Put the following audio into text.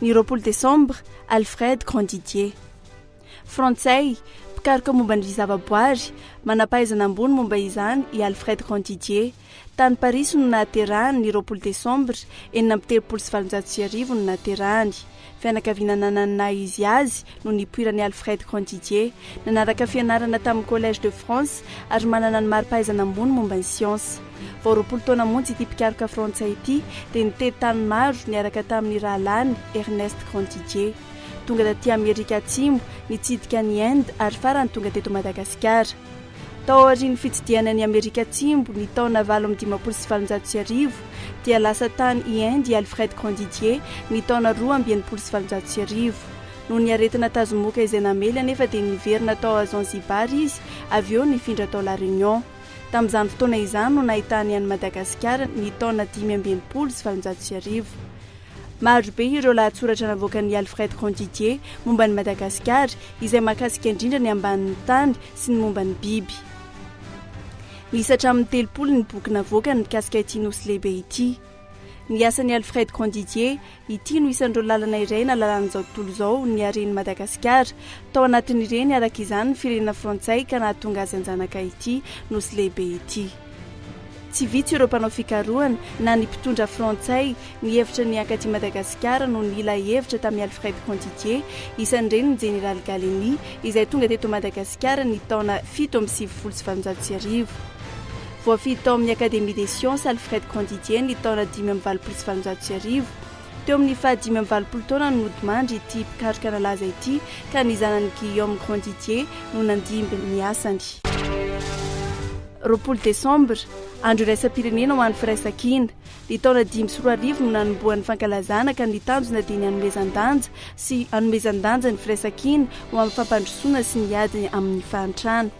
Ny roapolo Desambra, Alfred Grandidier. Frantsay, mpikaroka momba ny zavaboary, manam-pahaizana ambony momba izany i Alfred Grandidier. Tany Parisy no nahaterahany, ny roapolo Desambra enina amby telopolo sy valonjato sy arivo no nahaterahany. Fianakaviana nanana ny naha izy azy no nipoiran'i Alfred Grandidier. Nanaraka fianarana tamin'ny Collège de France ary manana ny mari-pahaizana ambony momba ny siansa. Vao roapolo taona monja ity mpikaroka frantsay ity dia nitety tany maro niaraka tamin'ny rahalahiny Ernest Grandidier. Tonga taty Amerika Atsimo, nitsidika an'i Inde ary farany tonga teto Madagasikara. Tao aorian'ny fitsidihana an'i Amerika Atsimo, ny taona valo amby dimampolo sy valonjato sy arivo, dia lasa tany i Inde i Alfred Grandidier, ny taona roa amby enimpolo sy valonjato sy arivo. Noho ny aretina tazomoka izay namely anefa dia niverina tao Zanzibar izy, avy eo nifindra tao La Réunion. Tamin'izany fotoana izany no nahitany an'i Madagasikara, ny taona dimy amby enimpolo sy valonjato sy arivo. Maro be ireo lahatsoratra navoakan'i Alfred Grandidier momba an'i Madagasikara, izay mahakasika indrindra ny ambanin'ny tany sy ny momba ny biby. Miisa hatramin'ny telopolo ny boky navoakany mikasika ity nosy lehibe ity. Ny asan'i Alfred Grandidier, ity no isan'ireo lalana iray nalalan'izao tontolo izao ny haren'i Madagasikara, tao anatin'ireny araka izany ny firenena frantsay ka nahatonga azy an-janaka ity nosy lehibe ity. Tsy vitsy ireo mpanao fikarohana na ny mpitondra frantsay nihevitra ny hankaty Madagasikara no nila hevitra tamin'i Alfred Conditier, isan'ireny ny Jeneraly Gallieni izay tonga teto Madagasikara ny taona fito amby sivifolo sy valonjato sy arivo. Voafidy tao amin'ny Académie des Sciences Alfred Conditier ny taona dimy amby valopolo sy valonjato sy arivo. Teo amin'ny faha dimy amby valopolo taona no nodimandry ity mpikaroka nalaza ity ka ny zanany Guillaume Grandidier no nandimby ny asany. Roapolo desambra, Andro iraisam-pirenena ho an'ny firaisankina. Ny taona dimy sy roa arivo no nanombohan'ny fankalazana ka ny tanjona dia ny hanomezan-danja sy hanomezan-danja ny firaisankina ho amin'ny fampandrosoana sy ny ady amin'ny fahantrana.